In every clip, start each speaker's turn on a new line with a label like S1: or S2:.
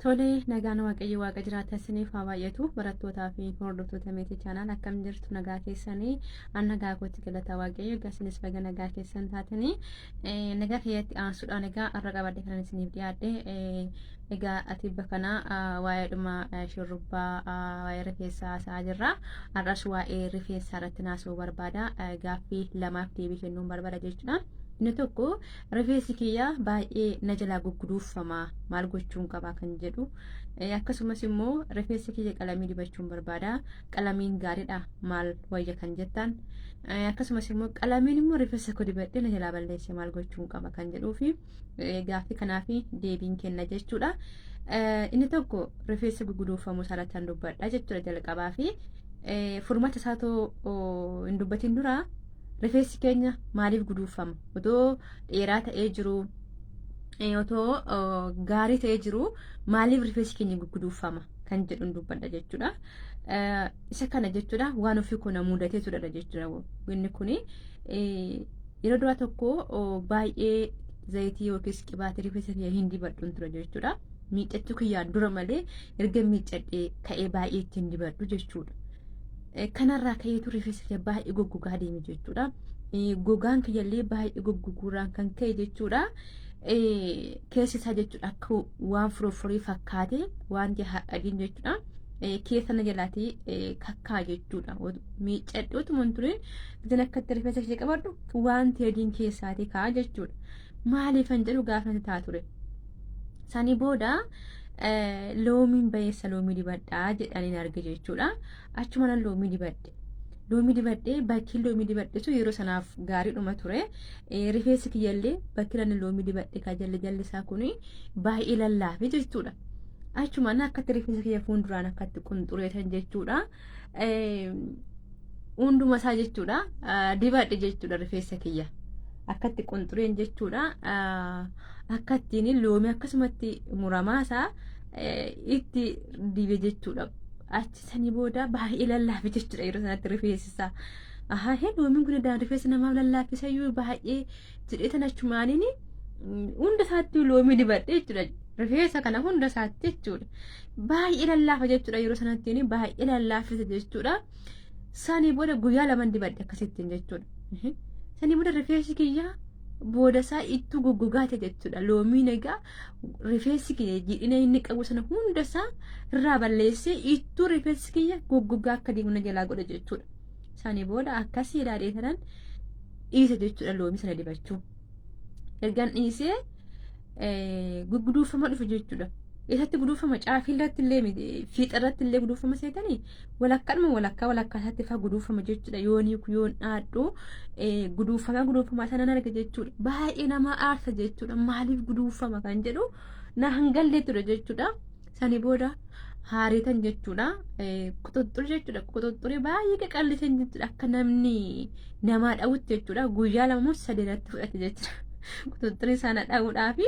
S1: Tole nagaan waaqayyo waaqa jiraata isiniif haa baay'atu barattootaa fi hordoftoota meetii chaanaan akkam jirtu nagaa keessanii an nagaa kootti galataa waaqayyo egaa isinis baga nagaa keessan taatanii nagaa keessatti aansuudhaan egaa har'a qabadde kanan isiniif dhiyaadhe egaa ati bakana waa'ee dhuma shurrubbaa waa'ee rifeensaa haasa'aa jirra har'as waa'ee rifeensaa irratti naasuu barbaada gaaffii lamaaf deebii kennuun barbaada jechuudha. Inni tokko Rifeensi kiyya baay'ee na jalaa gugguduuffama maal gochuun qabaa kan jedhu akkasumas immoo rifeensa kiyya qalamii dibachuun barbaada qalamiin gaariidha maal wayya kan jettan akkasumas immoo qalamiin immoo rifeensa koo dibadhee na jalaa balleesse maal gochuun qaba kan jedhuu fi gaaffii kanaaf deebiin kenna jechuudha. Inni tokko rifeensa gugguduuffamuu isaarratti kan dubbadha jechuudha jalqabaa fi furmaata isaatoo hin dubbatin dura Rifeensi keenya maaliif guduunfama? Otoo dheeraa ta'ee jiru otoo gaarii ta'ee jiru maaliif rifeensi keenya guduunfama kan jedhu dubbadha jechuudha. Isa kana jechuudha waan ofii koo na mudatee turedha jechuudha. Inni kun yeroo duraa tokko baay'ee zayitii yookiis qibaatii rifeensa kiyya hin dibadhu ture jechuudha. Miiccachuu kiyyaan dura malee erga miiccadhee ka'ee baay'ee ittiin dibadhu jechuudha. Kanarraa ka'eetu rifeensa kiyya baay'ee goggogaa deeme jechuudha. Gogaan kiyyallee baay'ee goggoguurraan kan ka'e jechuudha. Keessi isaa jechuudha akka waan furofuree fakkaate wanti hadhadin jechuudha. Keessa na jalaatee kakkaa jechuudha. Miiccadhee utuma hin turin isin akkatti rifeensa ishee qabadhu wanti adiin keessaatii ka'a jechuudha. Maaliif kan jedhu gaafa natti ta'a ture. Sani booda loomiin bayeessa loomii dibadhaa jedhaniin arge jechuudha. achuma nan loomii dibadhe. Loomii dibadhee bakki loomii dibadhe sun yeroo sanaaf gaariidhuma ture. Rifeensi kiyyallee bakki ani loomii dibadhe kan jalli jalli isaa kun baay'ee lallaafe jechuudha. Achuma na akkatti rifeensa kiyya fuulduraan akkatti qunxureetan jechuudha. Hunduma isaa jechuudha dibadhe jechuudha rifeensa kiyya. Akkatti qunxureen jechuudha. Akkattiin loomii akkasumatti muramaa isaa itti dibe jechuudha. Achi sanii booda baay'ee lallaafe jechuudha yeroo sanatti rifeessisaa. Ahaa hee loomiin kun daan rifeensa namaaf lallaafisa iyyuu baay'ee jedhee tan achumaaniin hunda isaatti loomii dibadhe jechuudha. Rifeensa kana hunda isaatti jechuudha. Baay'ee lallaafa jechuudha yeroo sanatti baay'ee lallaafisa jechuudha. Sanii booda guyyaa laman dibadhe akkasittiin jechuudha. Sanii booda rifeensi kiyyaa booda isaa ittuu goggogaate jechuudha. Loomii nagaa rifeensi kiyya jiidhina inni qabu sana hunda isaa irraa balleessee ittuu rifeensi kiyya goggogaa akka deemu na jalaa godha jechuudha. Isaanii booda akkasii ilaalee tanan dhiisa jechuudha loomii sana dibachuu. Ergan dhiisee gugguduufama dhufu jechuudha. Isatti guduufama caafii irratti illee fiixa irratti illee guduufama seetanii Walakkaadhuma walakkaa walakkaa isaatti faa guduufama jechuudha. Yoon hiiku yoon dhaadhu guduufamaa guduufamaa sana nan arga jechuudha. Baay'ee nama aarsa jechuudha. Maaliif guduufama kan jedhu na hangallee ture jechuudha. Sani booda haariitan jechuudha. Quxuxxuri jechuudha. Quxuxxuri baay'ee qaqallisan jechuudha. Akka namni namaa dhawutti jechuudha. Guyyaa lama moo sadii irratti fudhate jechuudha. Quxuxxuri sana dhawuudhaafi.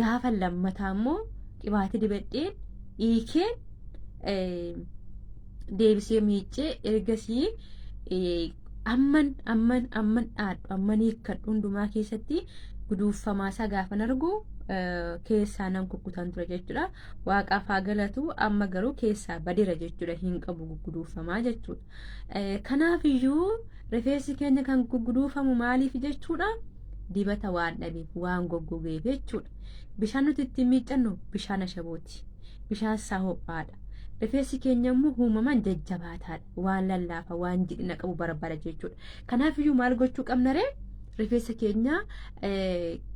S1: gaafa lammataa immoo qibaati dibadheen dhiikeen deebisee miiccee ergasii amman amman amman dhaadhu amman hiikkadhu hundumaa keessatti guduuffamaa isaa gaafan argu keessaa nan kukkutan ture jechuudha. Waaqaaf haa galatu amma garuu keessaa badira jechuudha hin qabu guduuffamaa jechuudha. Kanaaf iyyuu rifeensi keenya kan gugguduufamu maaliif jechuudha? Dibata waan dhabeef waan goggogeef jechuudha. Bishaan nuti ittiin miiccannu bishaan ashabooti. Bishaan isaa ho'aadha. Rifeensi keenya immoo uumamaan jajjabaataadha. Waan lallaafa waan jidhina qabu barbaada jechuudha. Kanaaf iyyuu maal gochuu qabna ree? Rifeensa keenya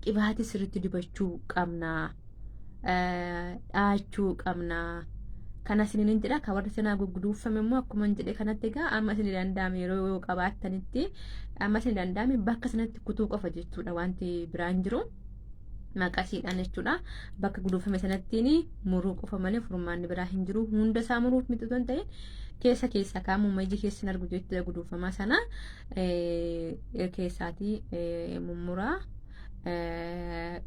S1: qibaatii sirriitti dibachuu qabna. dhaachuu qabna. Kana isiniin jedha kan warri sanaa gugguduufame immoo akkuma hin jedhe kanatti egaa amma isin danda'ame yeroo yoo qabaattanitti amma isin danda'ame bakka sanatti kutuu qofa jechuudha wanti biraan jiru. maqasiidhaan jechuudha bakka guduufame sanattiin muruu qofa malee furmaanni biraa hin jiru hunda isaa muruuf miti osoo hin ta'in keessa keessa kaamuma iji keessa hin argu jechuudha guduufamaa sana keessaatii mummuraa.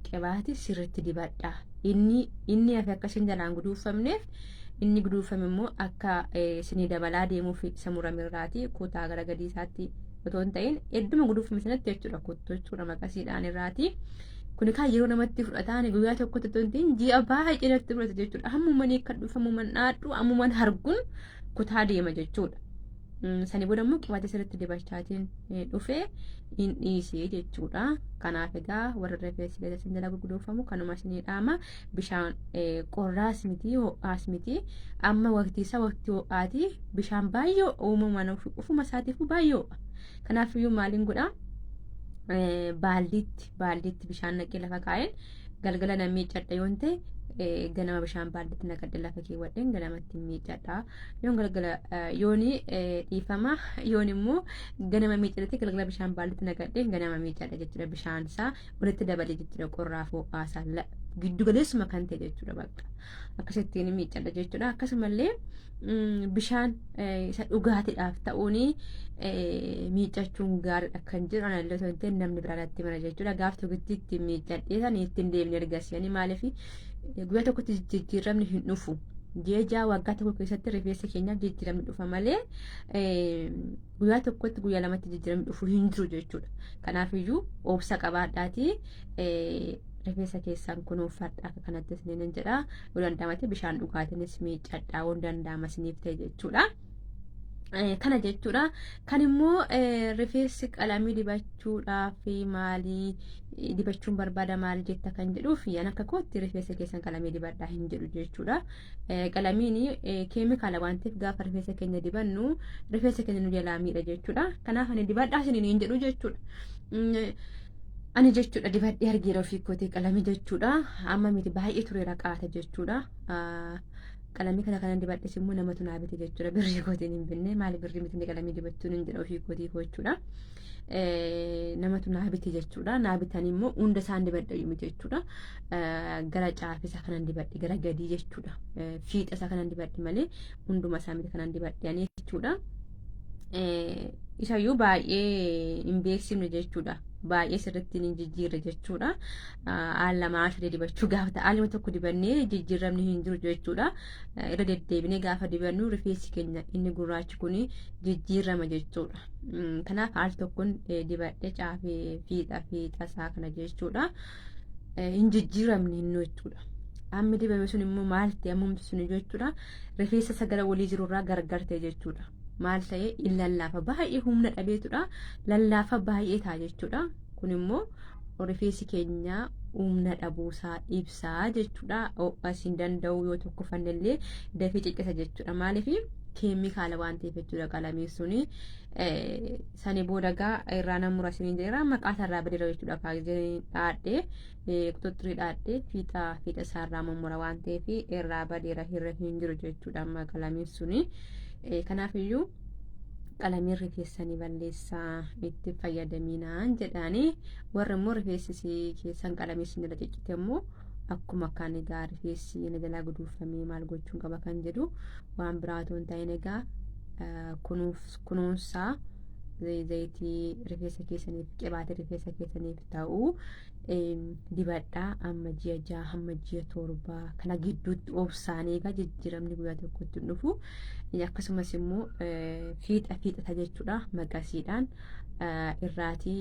S1: qibaatii sirriitti dibadha inni inni hafe akka isin jalaan guduunfamneef inni guduunfame immoo akka isinii dabalaa deemuuf isa murame irraati kutaa gara gadii isaatti otoo hin ta'in hedduma guduunfame sanatti jechuudha kuttuu jechuudha maqasiidhaan irraati. Kun kaa yeroo namatti fudhataan guyyaa tokkotti otoo hin ta'in ji'a baay'ee natti fudhata jechuudha. Ammuman akka dhufamu man dhaadhu ammuman hargun kutaa deema jechuudha. Sani booda immoo qibaatee sirriitti dibachaatiin dhufee hin dhiisee jechuudha. Kanaaf egaa warra rifeensi gadi isin jala gurgudoofamu kanuma isinii dhaama bishaan qorraas miti ho'aas miti amma waqtii isaa waqtii ho'aati bishaan baay'ee uumamaan ofuma isaatiifuu baay'ee ho'a. Kanaaf iyyuu maaliin godhaa? Baaldiitti baaldiitti bishaan naqee lafa kaa'een galgala nan miiccadha yoo ta'e ganama bishaan baaldiitti naqadhe lafa keewwadheen ganamatti miiccadha. yoon galgala yooni dhiifama yoon immoo ganama miicadhatti galgala bishaan baallitti nagadheen ganama miicadha jechuudha bishaan isaa walitti dabale jechuudha qorraa foo'aa isaa giddu galeessuma kan ta'e jechuudha bakka akkasittiin miicadha jechuudha akkasumallee bishaan isa dhugaatiidhaaf ta'uun miicachuun gaariidha kan jiru anallee osoo hin ta'in namni biraa irratti mara jechuudha gaaf tokkittiitti miicadhee san ittiin deemne ergasanii maaliif guyyaa tokkotti jijjiiramni hin dhufu. Jeejaa waggaa tokko keessatti rifeensa keenyaaf jijjiiramni dhufa malee guyyaa tokkotti guyyaa lamatti jijjiiramni dhufu hin jiru jechuudha. Kanaafiyyuu obsa qabaadhaatii rifeensa keessaan kunuunfadha akka kanatti isiniin jedha. Yoo danda'amate bishaan dhugaatiinis miiccadha waan danda'ama isiniif ta'e jechuudha. Eh, kana jechuudha kan immoo eh, rifeensi qalamii dibachuudhaaf maalii eh, dibachuun barbaada maal jetta kan jedhuuf yan akka kootti rifeensa keessan qalamii dibadhaa hin jedhu jechuudha Eh, qalamiin eh, keemikaala waan ta'eef gaafa rifeensa keenya dibannu rifeensa keenya nu jalaa miidha jechuudha kanaaf ani dibadhaa isiniin hin jedhu jechuudha Mm, eh, ani jechuudha dibadhee argeera ofii kootee qalamii jechuudha amma miti baay'ee tureera qaata jechuudha Ah, qalamii kana kanan dibadhes immoo namatu naa bite jechuudha birrii kootiin hin binne maali birrii miti qalamii dibachuun hin jedha ofii kootii koo jechuudha namatu naa bite jechuudha naa bitan immoo hunda isaan dibadha yumi jechuudha gara caafisa kanan dibadhe gara gadii jechuudha fiixa isaa kanan dibadhe malee hunduma isaa miti kanan dibadhe ani jechuudha. isayyuu baay'ee hin beeksifne jechuudha. Baay'ee sirriitti hin jijjiirre jechuudha. Al lama al sadii dibachuu gaafa ta'a. Aluma tokko dibannee jijjiiramni hin jiru jechuudha. Irra deddeebinee gaafa dibannu rifeensi keenya inni gurraachi kun jijjiirama jechuudha. Kanaaf al tokkoon dibadhee caafee fiixa fiixa isaa kana jechuudha. hin jijjiiramne innuu jechuudha. Ammi dibame sun immoo maal ta'e ammumti sun jechuudha. Rifeensa sagala walii jirurraa gargar ta'e jechuudha. Maal ta'e in lallaafa baay'ee humna dhabeetudha. Lallaafa baay'ee ta'a jechuudha. Kun immoo rifeensi keenya humna dhabuusaa ibsaa jechuudha. Ho'as hin danda'u yoo tokko fannellee dafee ciccita jechuudha. Maaliif keemikaala waan ta'eef jechuudha qalamiin suni. Sani booda gaa irraa nan mura isiniin jedheera. Maqaa isaarraa badeera jechuudha kaa giseen dhaadhee eh, quxuxxirii dhaadhee fiixa fiixa isaarraa mummura waan ta'eef irraa badeera hirra hin jiru jechuudha amma qalamiin suni. Eh, Kanaafiyyuu qalamiin rifeessanii balleessaa itti fayyadaminaan jedhaanii warri immoo rifeessisii keessan qalamii isin irra ciccite immoo akkuma kan egaa rifeessi na jalaa guduunfamee maal gochuun qaba kan jedhu waan biraa otoo hin ta'iin egaa eh, kunuuf kunuunsaa zayitii rifeensa keessaniif qibaatii rifeensa keessaniif ta'u dibadhaa amma ji'a jaha hamma ji'a torba kana gidduutti obsaanii egaa jijjiiramni guyyaa tokkotti hin dhufu akkasumas immoo fiixa fiixata jechuudha maqasiidhaan irraatii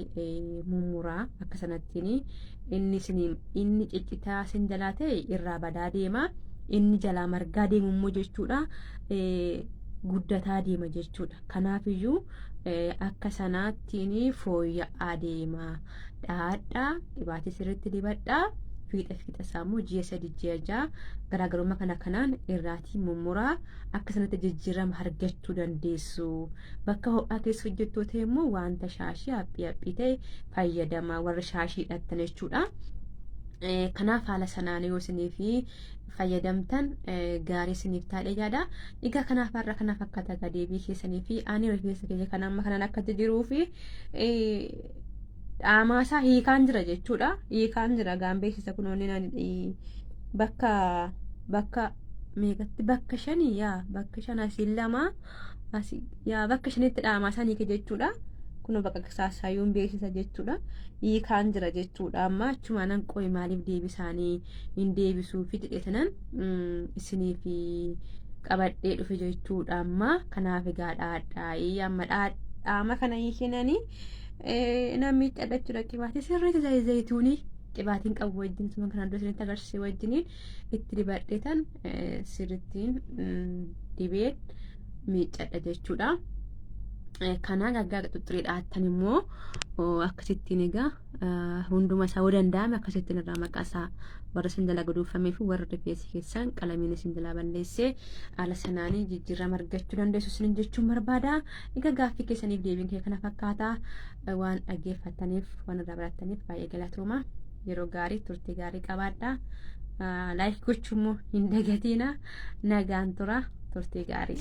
S1: mummuraa akka sanattiin inni inni ciccitaa sin jalaa ta'e irraa badaa deema inni jalaa margaa deemummoo jechuudha guddataa deema jechuudha. Kanaafiyyuu akka sanaattiin fooyya'aa deema. Dhaadhaa dhibaatii sirriitti dibadhaa. fiixa fiixa isaa immoo ji'a sadi ji'a ja'a garaagarummaa kana kanaan irraatii mummuraa akka sanatti jijjiirama argachuu dandeessu. Bakka ho'aa keessa hojjettuu ta'e immoo wanta shaashii haphii haphii ta'e fayyadama warra shaashii hidhattan jechuudha. Kanaaf haala sanaan yoo isiniif fayyadamtan gaarii isiniif taadhe yaada. Egaa kanaaf har'a kana fakkaata egaa deebii keessanii fi ani rifeensa keenya kan amma kanan akka jiruu fi dhaamaa isaa hiikaan jira jechuudha. Hiikaan jira gaan beeksisa kun onni bakka bakka meeqatti bakka shanii yaa bakka shan asiin lama asii yaa bakka shanitti dhaamaa isaa hiike jechuudha. Kunoo bakka saasaayyuun beeksisa jechuudha. Hiikaan jira jechuudha amma achumaan hanqooyi maaliif deebisaanii. hin deebisuu fi jedhetanan isiniif qabadhee dhufe jechuudha amma kanaaf egaa dhaadhaa'ii amma dhaadhaama kana hin shinanii namni itti addachuudha qibaatee sirriitti zayituunii qibaatiin qabu wajjin suma kanaan dura isinitti agarsiise wajjiniin itti dibadheetan sirrittiin dibeen miiccadha jechuudha. Kanaa gaggaa xuxxuriidha attan immoo akkasittiin egaa. hunduma isaa yoo danda'ame akkasittiin irraa maqaa isaa warra isin jalaa guduunfamee fi warra rifeensi keessan qalamiin isin jalaa balleessee haala sanaanii jijjiirama argachuu dandeessu isin jechuun barbaada. Egaa gaaffii keessaniif deebiin kee kana fakkaata waan dhaggeeffataniif waan irraa barattaniif baay'ee galatooma. Yeroo gaarii turtii gaarii qabaadha. Laayik gochuu immoo hin dagatiina nagaan tura turtii gaarii.